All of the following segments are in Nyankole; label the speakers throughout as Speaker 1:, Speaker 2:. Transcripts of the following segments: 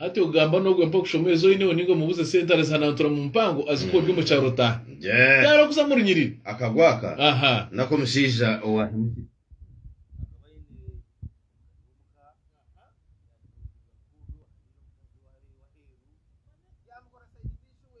Speaker 1: Hati ogamba nogwe mpa kushoma ezo oyineho ninga omubuze sente arizihanantura mu mpango azikuha ori omu kyaro taha. Yes. Yaaroha kuza mu runyiriri. Akagwa aka Aha.
Speaker 2: nako omushaija
Speaker 1: owahemukire akaba aine
Speaker 2: omuka yamutungira omuka ogu owahaire omukazi owaabaire aheeru yaamukoresa aine ishuwe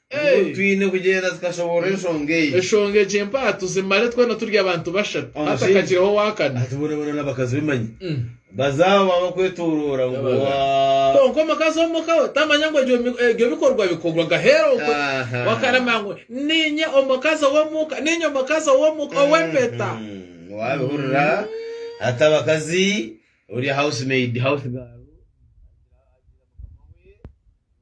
Speaker 2: Nibwo twine kugyenda tukashoboorora enshonga egi. Enshonga egi empaatu zimare twena turi abantu bashatu hatakagireho ow'akana. Hati boona boona n'abakazi be manya. Baza aho baabakwetooroora ngu waa. Kwonka omukazi ow'omu ka we tamanya ngu ebyo bikorwa bikorwa gaheeru okwe. Wakarama ngu, Niinye omukazi ow'omu ka, niinye omukazi ow'omu ka ow'empeta. Waabihurira? Hati abakazi, ori house maid, house girl, agira agira mukama we ngu.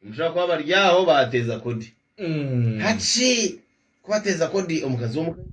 Speaker 2: Nibushusha kuba bari aho baateeza kodi. Haki ku bateeza kodi omukazi w'omukaikuru?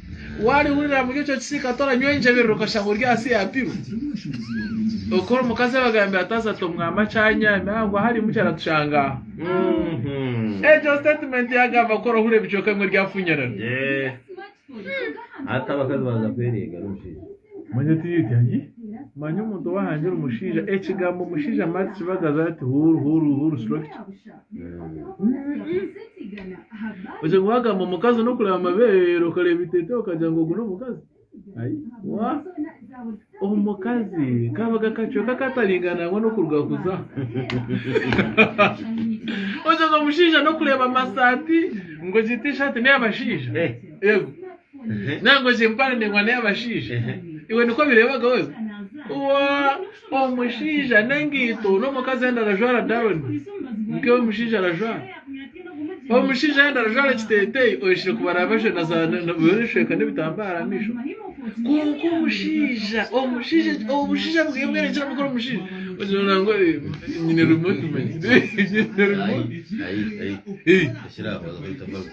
Speaker 2: Waarihurira buri ekyo kisiika toranywa engyebiriro okashanga ori ahansi ya pilu. Okora omukazi abagambira ati haza tomwama kyanya nangwa harimu kyaratushanga aha. Mhm. Egyo statement yagamba kukora ohura ebicweka bimwe ryafunyirana. Eh.
Speaker 3: Hati abakazi baza kwereega ari omushaija. Manya oti oti
Speaker 2: ayi. Manya omuntu owahangira omushaija ekigambo omushaija mara tikibagaza ati huru huru huru stroke ki. Oshanga wagamba omukazi n'okureba amabeere okareeba eiteteyi okagira ngu ogu n'omukazi. Ai wa! Omukazi kaabaga kacweka kataringana nangwa n'okuruga kuza. Oshanga omushaija n'okureeba amasaati ngu egi tishaati n'ey'abashaija. Eh. Yego. Ehe. Nangwa egi empare ndingwa n'ey'abashaija. Ehe. Iwe nikwo bireebagaho ebi? Wa! Omushaija n'engaito n'omukazi ayenda arajwara daroni nkeyi omushaija arajwara omushaija ayenda arajwara ekiteteyi oyeshire kubara bajwena ebishweka n'ebitambara aha maisho kwonka omushaija omushaija obushaija bweye bwena eki arikukora omushaija ogira ngu nyine remote man nyine remote.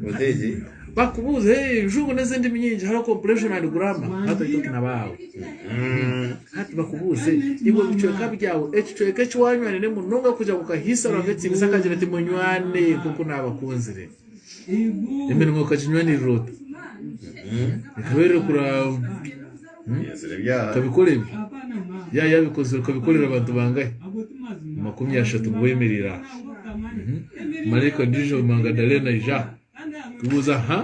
Speaker 3: Muzeeyi, bakubuuza
Speaker 2: ebijungu n'ezindimi nyingi hariho comprehension and grammar hati oitoki na baawe hati bakubuuze iwe ebicweka byawe ekicweka eki wanywanire munonga kugira ngu kahiisa Ruhanga ekitinisa akagira ati munywane nk'oku naabakunzire eminwa okaginywanirira ota ekabeerire kura Okabikora ebi? Yaaya abikozire. Okabikorera abantu bangahi? Amakumi ashatu nibo beemereire aha. Maraika ondiijo Magadaleena aija kubuuza, Ha?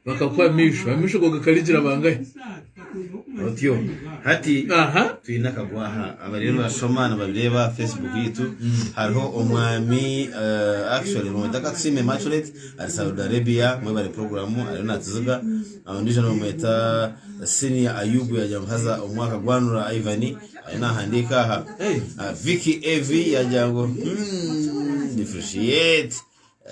Speaker 2: Bakakuha amaisho. Amaisho go gakarigira bangahi?
Speaker 3: Otyo. Hati twine akagwa aha. Abariyo nibashoma nibabireeba aha Facebook yaitu. Hariho omwami, actually, bamweta Katusime Immaculate, ari Saudi Arabia. Mwebare puroguraamu, ariyo naagiziga. Ondiijo nibamweta Senior Ayubu yaagira ngu haza omwaka gwanura Ivan ariyo naahandiika aha Ah, Vicky AV yaagira ngu "Hmm, depreciate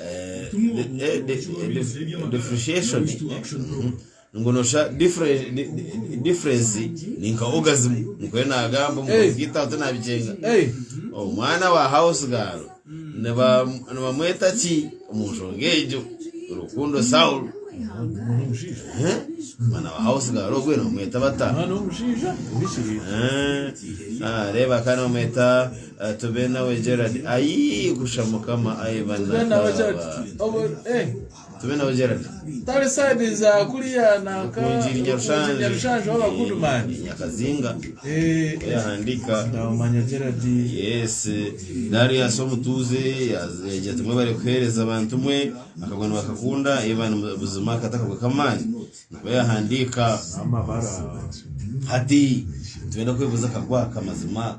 Speaker 3: eh, de- eh, de- eh, def- depreciation eh, mhm. ngu nosha difference di- di- difference ni nka orgasm nikuye naagamba omukazi gitaho tinaabicenga Hey. omwana wa house girl Nibamweta ki omu nshonga egyo? Rukundo Saulo. Omwana wa hausi gaari ogwe nibamweta bata? Reeba kandi nibamweta tube nawe Gerard. Ayi kusha mukama ayi banakaba. Tari saidi
Speaker 2: za kuriya nanka Rukuungiri Nyarushanje
Speaker 3: owaba Goodman.
Speaker 2: Nyakazinga
Speaker 3: yahandiika Ndamumanya
Speaker 2: Gerald. Yes,
Speaker 3: Darius omutuuze yagira ati mwebare kuheereza bantu mwe, akagwa nibakakunda Ivan Buzima akata akagwa k'amaani nabwo yahandiika. Amabara.
Speaker 2: Hati
Speaker 3: nitwenda kwebuuza akagwa aka mazima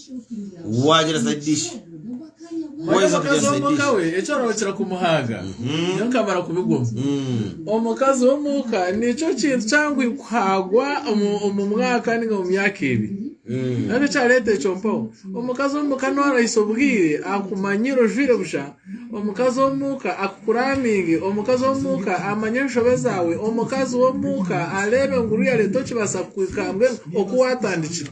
Speaker 3: waagira side dish Wari waheza kugira omukazi side dish
Speaker 2: w'omuka we ekyo arokira kumuhanga niyo nkamara kubigwamu Mm. omukazi w'omuka nikyo kintu kyangwi kuhagwa omu omu mwaka ninga omu myaka ebi Mm. nabyo kyaleeta ekyo mpaho omukazi w'omuka norahisa obwire akumanyire ojwaire busha omukazi w'omuka akukuraminge omukazi w'omuka amanye enshobe zaawe omukazi w'omuka areebe ngu oru yareeta okibaasa kuhika mbwenu oku waatandikire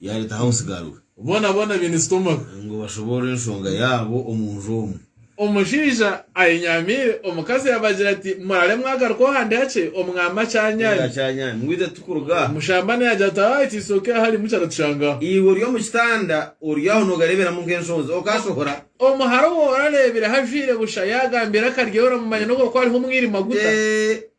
Speaker 3: Yaaretaho omusigaro we. Boona boona baine
Speaker 2: sitomaho. Ngu bashoboorore
Speaker 3: enshonga yaabo omu nju omwo. Omushaija
Speaker 2: ayenyamiire, omukazi yaabagira ati, Muraare mwagaruka oha ndi hakye, Omwaami akyanyaami. Akyanyaami. Ngu itwe tikuruga
Speaker 3: aha. Mushambani yaagira ati, Aa,
Speaker 2: itwe isooka eya harimu kyaratutshanga aha. Iwe ori omu kitanda,
Speaker 3: ori aho noogareeberamu nk'enshonzi, okaashohora? Omuhara ou
Speaker 2: orareebireho ajwaire busha, yaagambira akaryo, oramumanya n'obu hookuba hariho omwirima guta. Ee,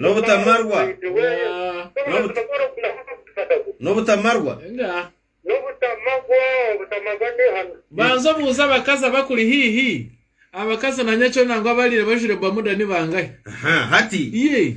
Speaker 4: N'obutamarwa.
Speaker 3: N'obutamarwa.
Speaker 2: Banza obuuze abakazi abakuri haihi. Abakazi na nyakyona ngu abariire bajwaire bamuda ni bangahi? Aha, hati.
Speaker 3: Yee.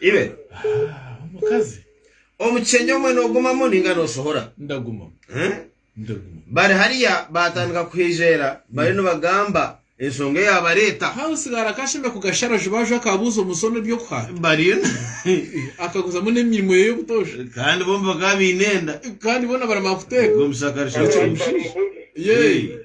Speaker 3: Ibe. Ah,
Speaker 2: omukazi. Omukyenya
Speaker 3: omwe nogumamu ninga nosohora? Ndagumamu.
Speaker 2: Eh?
Speaker 3: Ndagumamu. Bari hariya batandika kuhijera bari nibagamba ensonga eyabareta. Hawe sigara akashembe
Speaker 2: kugashara jubaju akabuuza omusono ebyokuha. Bariyo.
Speaker 3: Akaguzamu
Speaker 2: n'emirimo ye y'obutosha. Kandi bombi bakaba
Speaker 3: baine enda. Kandi bona baramara
Speaker 2: kuteeka. Omusakarisha.
Speaker 3: Yee.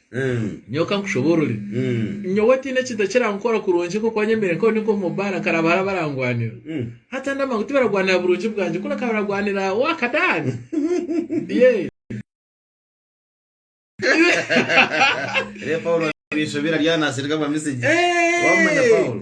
Speaker 2: Mm. nyowe kankushoboorore Mm. nyowe tihaine ekintu ekirankora kurungi nk'oku wanyemeire nk'obu ndi nk'omu baara nkaraba hariho abarangwanira Mm. hata ndamanya ngu tibaragwanira burungi bwangye kureka baragwanira wakadaani ye Reero Paulo
Speaker 3: abaishobera ryanaasirika bwa misigi. Wamumanya Paulo?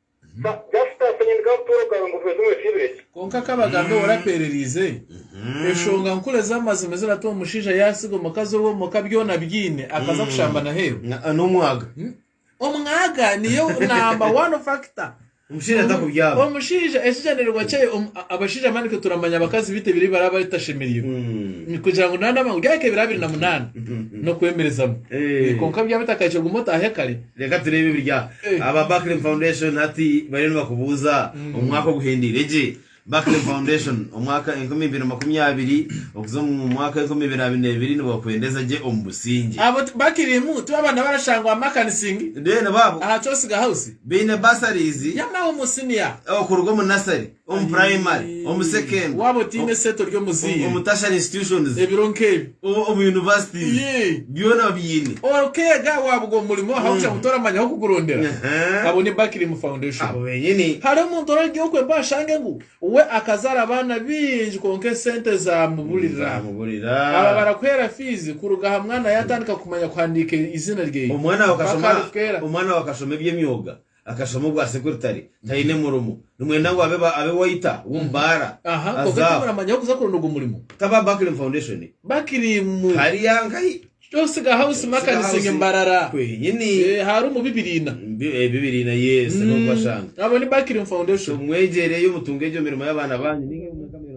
Speaker 4: Kwonka ka bagambe we
Speaker 2: orapeereriize eshonga nkuru ez'amazima eziratuma omushaija yaasiga omukazi owe omuka byona abyine akaza kushamba n'aheeru.
Speaker 3: Omwaga
Speaker 2: niyo namba wani fakita.
Speaker 3: Omushaija ekigyendererwa
Speaker 2: kye, abashaija mani itwe turamanya abakazi baitu ebiro ebi baraba batashemereirwe kugira ngu nana ngu ryahika ebiro abiri na munaana n'okwemerezamu. Kwonka byaba bitakahikire guma otaahe kare. Reka tureebe ebiri
Speaker 3: aha. Aba Buckling Foundation hati bariyo nibakubuuza omu mwaka oguhendeire gye. Buckling Foundation, omwaka enkumi ibiri na makumi abiri okuza omu mwaka enkumi ibiri abiri na ibiri nibakuhendeza gye omu busingye. Abo bakirimu
Speaker 2: tibo abaana barashangwa Makanising Bene baabo aha
Speaker 3: Kyosiga House
Speaker 2: baine bursaries
Speaker 3: y'amahumwo siniya.
Speaker 2: okuruga omu nasari.
Speaker 3: omu purayimari, omu sekendure, Waaba otaine esente ori
Speaker 2: omuzaire. omu tertiary institutions,
Speaker 3: Ebiro nk'ebi. o-
Speaker 2: omu universities,
Speaker 3: Yee. byona babiine. Okeega waabugwa
Speaker 2: omu murimo ahabw'okugira ngu toramanya ahu kugurondera. Aha. Abo ni Bakilimu Foundation. Abo benyini. Hariho
Speaker 3: omuntu orarugya okwo
Speaker 2: embaho ashange ngu we akazaara abaana baingi kwonka esente zaamuburira. Nzamuburira. Aba barakuheera fiizi kuruga aha mwana yaatandika kumanya kuhandiika eiziina rye. Omwana we mpaka akashoma, arifeera.
Speaker 3: omwana we akashoma eby'emyoga. Akashoma obwa secretary taine murimo. Nimwenda ngu abe abe waiter womu baara. Aha konka Aza aho. timuramanya
Speaker 2: ahu kuza kuronda ogwo murimo. Taba Buckling Foundation.
Speaker 3: Bakirimu.
Speaker 2: Hariya nkahi?
Speaker 3: Kyosiga house Siga
Speaker 2: makanizing house. Mbarara. Kwenyini. Eh, Haru
Speaker 3: mu Bibiriina.
Speaker 2: Bi- eh, Bibiriina yes.
Speaker 3: Nobubashanga. Abo ni Bakirimu So
Speaker 2: Foundation. mwegyereyo mutunge
Speaker 3: egyo mirimo y'abaana banyu. Ninga ebi mwega mirimo.